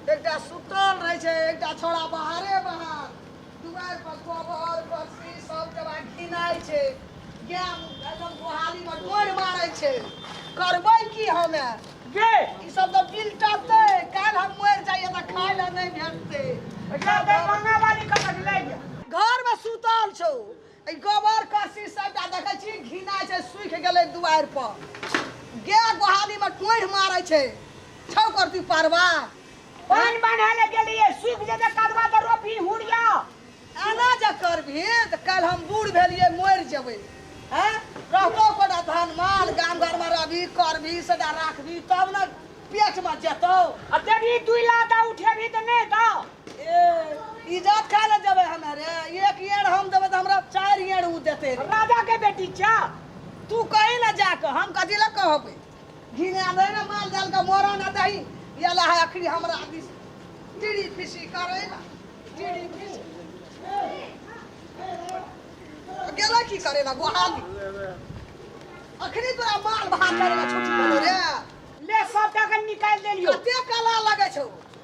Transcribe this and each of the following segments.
एकटा सुतल रहै छै एकटा छोड़ा बाहरे बाहर दुआरि पर गोबर बस्ती सब जगह घिनाइ छै गाय एकदम गोहाली में डोर मारै छै करबै की हमे के ई सब तऽ बिलटतै काल्हि हम मरि जाइए तऽ खाय लए नहि भेटतै एकरा दरभंगा वाली कतऽ लए गेल घर में सुतल छौ ई गोबर करसी सबटा देखै छी घिनाइ छै सूखि गेलै दुआरि पर गाय गोहाली में टोढ़ मारै छै छौ करती परवा पानि बान्हे ले गेलियै सूखि जेतै कदवा तऽ रोपी हुड़िया एना जे करबही तऽ काल्हि हम बूढ़ भेलियै मरि जेबै हैं रहतो कोटा धन माल गाम घर में रहबी करबी सदा राखबी तब ने पेट में जेतौ आ देबही दुइ लाख आ उठेबही तऽ नहि दौ इजात खा ले जबे हमें रे एक येड़ हम देबे तो हमरा चार येड़ उ देते रे राजा के बेटी छा तू कही ना जाके हम कथी लग कहबे घिना दे ना माल जाल का मोरा ना दही ये ला है अखरी हमरा दिस टीड़ी फिसी करे ना टीड़ी फिसी गेला की करे ना गोहाली अखरी तोरा माल भात करे ना छुट्टी करे रे ले सब टाका निकाल देलियो कते कला लगे छौ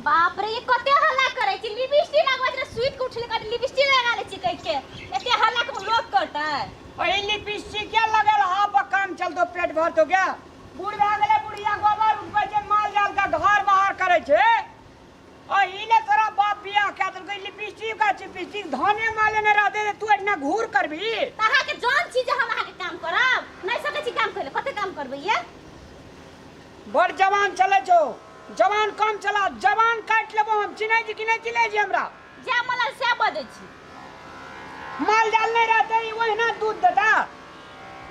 बाप रे ये कते हल्ला करे छी लिपस्टिक लगबै छै स्वीट के उठले कट लिपस्टिक लगा ले छी कह के एते हल्ला के लोग करता है वही लिपस्टिक क्या लगल हा पर काम चल तो पेट भर तो क्या बूढ़ भए गेलै बुढ़िया गोबर उठबै छै माल जाल के घर बाहर करै छै अहीने तोरा बाप बियाह कए देलकै लिपस्टिक का चिपस्टिक धाने माले ने रहते तू एना घूर करबी तऽ अहाँके जान छी जे हम अहाँके काम करब नहि सकै छी काम करै कते काम करबै ये बड़ जवान चले छो जवान कम चला जवान काट लेबो हम चिन्है छी कि नहि चिन्है छी हमरा जे मला से बजै छी माल जाल नहि रहते ई ओहिना दूध देता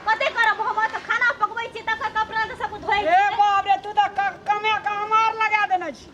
कते करब हम तऽ खाना पकबै छी तकर कपड़ा तऽ सब धोइ ए बाप रे तू तऽ कमे का हमार लगा देने छी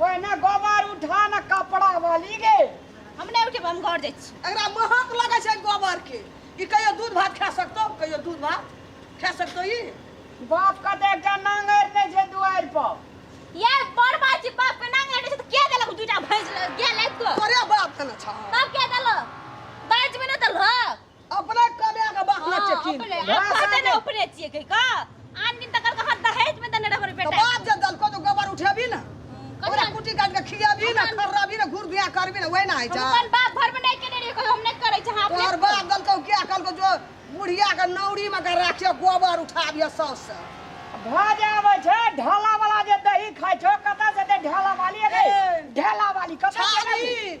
पहिने गोबर उठा ने कपड़ा वाली गे हम नहि उठेब हम घर जाइ छी एकरा महक लगै छै गोबर के ई कहियो दूध भात खा सकतो कहियो दूध भात खा सकतो ई बाप के देख के नांगर नहि छै दुआरि पर ये बड़ बात छै बाप के नांग लटे छै तऽ के देलक दूटा भैंस गेल एक तो तोरे बाप देने छौ तब के देलक बाज में न देलक अपने कमे के बात ना चेकिन अपने अब भाषा कहते के- ना उपरे छिए के का आन दिन तक कहा दहेज में देने रहबर तो बेटा बाप जे दलको तो गोबर उठेबी ना ओकरा कुटी काट के खियाबी ना खर्राबी ना घूर बिया करबी ना वही ना है जा अपन बाप घर में नहीं केने रहिए कोई हम नहीं करे छ हां तोहर बाप दलको क्या कल को जो बुढ़िया के नौरी में के राखे गोबर उठाबिया सौस से भऽ जाबै छै ढाला वाला जे दही खाइ छौ कतऽ से दे ढाला वाली अरे ए। ढाला वाली कतऽ से छाली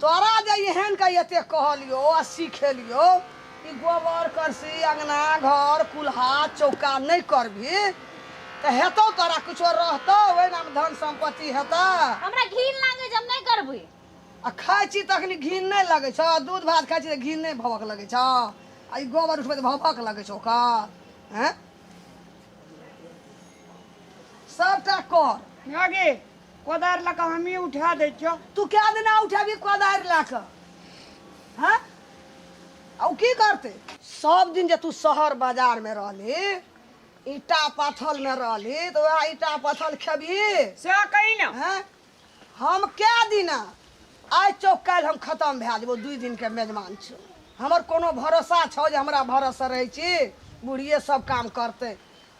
तोरा जे एहेन के एतेक कहलियौ आ सिखेलियौ कि गोबर, करसी, अंगना, घर, कुल्हा, चौका नहि करबिहि त हेतौ तोरा किछो रहतौ ओहिना मे धन सम्पत्ति हेतह। हमरा घिन लागै जे हम नहि करबै। आ खाइ छी तखनि घिन नहि लगै छह? दूध भात खाइ छी त घिन नहि भभक लगै छह? आ ई गोबर उठबै त भभक लगै छौ ओकर? एँ? सभटा कर। माए गे! कोदारि लऽ कऽ हमही उठा दै छियौ तू कए दिना उठेबही कोदारि लए कऽ हँ आ ओ की करतै सब दिन जे तू शहर बाजारमे रहली ईटा पथलमे रहली तऽ उएह ईटा पथल खेबही सएह कही ने हैं? हम कए दिना आइ चौक काल्हि हम खतम भए जेबौ दुइ दिनके मेजबान छौ हमर कोनो भरोसा छौ जे हमरा भरोसे रहै छी बुढ़िए सब काम करतै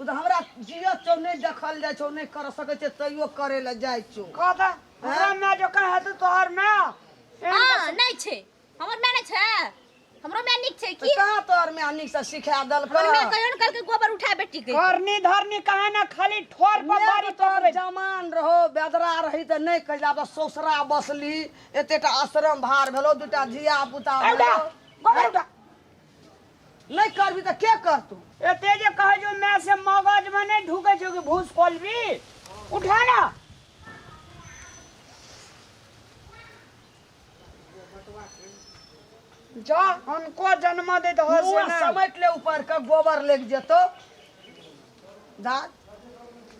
तू तऽ हमरा जियत छौ नहि देखल जाइ छौ नहि कर सकै छै तैयो करै लए जाइ छौ कह तऽ हमरा माय जकाँ हेतै तोहर माय हाँ नहीं छे हमर मैं नहीं छे हमरो मैं निक छे की कहाँ तोहर माय नीक से सिखा देलकै हमर मैं कहियो न कल के गोबर उठा बेटी के करनी धरनी कहे ना खाली ठोर पर माय बारी तोहर पकड़े जमान रहो बेदरा रही तऽ नहि कहि जाब ससुरा बसली एतेटा आश्रम भार भेलो दूटा धिया पुता भेलो गोबर उठा नहि करबी तऽ के करतौ एते जे कहै छौ माय से मगज में नहीं ढूके छौ कि भूस खोलबी उठा ना जा हनको जन्म दे दहो से मुँह नहि समैट ले ऊपर के गोबर लग जेतो जा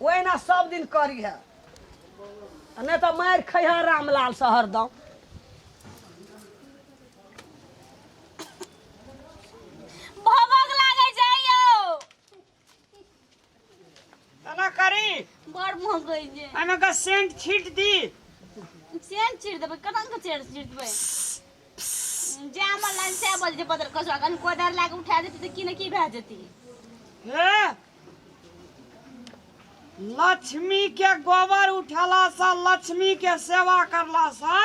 ओहिना सब दिन करी है नहि तऽ मारि खैहा रामलाल से हरदम भभक लागै छै यौ तना करी बड़ महकै छै एहिमे के सेंट छीट दी सेन चिर देबै कना के चेर चिर देबै जे हमर लाइन से बल जे बदल कसो अखन कोदार लाके उठा देती तऽ की ने की भए जेती हे लक्ष्मी के गोबर उठेला से लक्ष्मी के सेवा करला से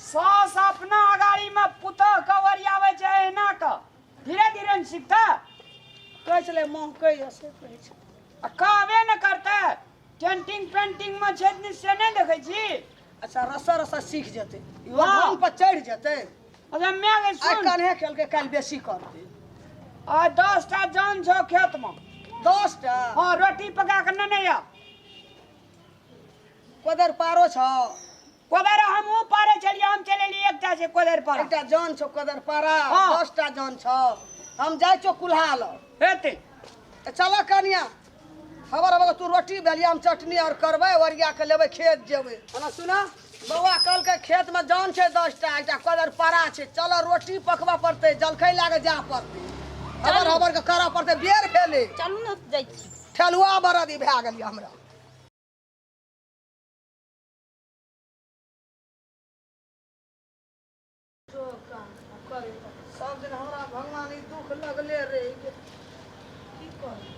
सास अपना अगाड़ी में पुतह के ओरियावे छै एहिना के धीरे धीरे ने सीखते कहै छलै माँ कहिया से कहै छै आ कहबे ने करते टेंटिंग पेंटिंग में छै दिन से नहीं देखे छी अच्छा रस्सा रस्सा सीख जेतै इहो वाह। ढंग पर चढ़ि जेतै अरे मैं गई आइ सुन कन्हे खेलकै काल्हि बेसी करतै आ दस टा जान छो खेत में दस टा हाँ रोटी पका के नहीं नहीं आ कोदर पारो छौ कोदर हमहू पारे छलियै हम चले लिए एकटा से कोदर पारा एकटा जान छौ कोदर पारा हाँ। दसटा जान छौ हम जाइ छौ कुल्हा ल हेते चल कनिया हमर बगल तू रोटी बेलिया हम चटनी और करबै ओरिया के लेबै खेत जेबै हना सुना बौआ कल के खेत में जान छै दसटा एकटा कोदर पारा छै चल रोटी पकबा पड़ते जलखै लागे जा पड़ते हमर हमर के करऽ पड़ते बेर भेले चलू ने जाइ छी ठेलुआ बरदी भए गेलियै हमरा सब दिन हमरा भगवान ई दुख लगले रही कि की करी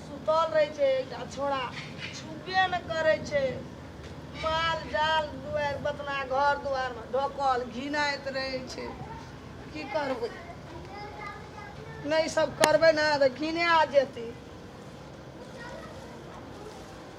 सुतल रहै छै एकटा छोड़ा छुबे ने करै छै माल जाल दुआर बतना घर दुआरमे ढोकल घिनाइत रहै छै की करबै नहि सब करबै ने तऽ घिना जेतै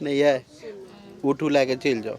नहि यै उठू लए कऽ चलि जाउ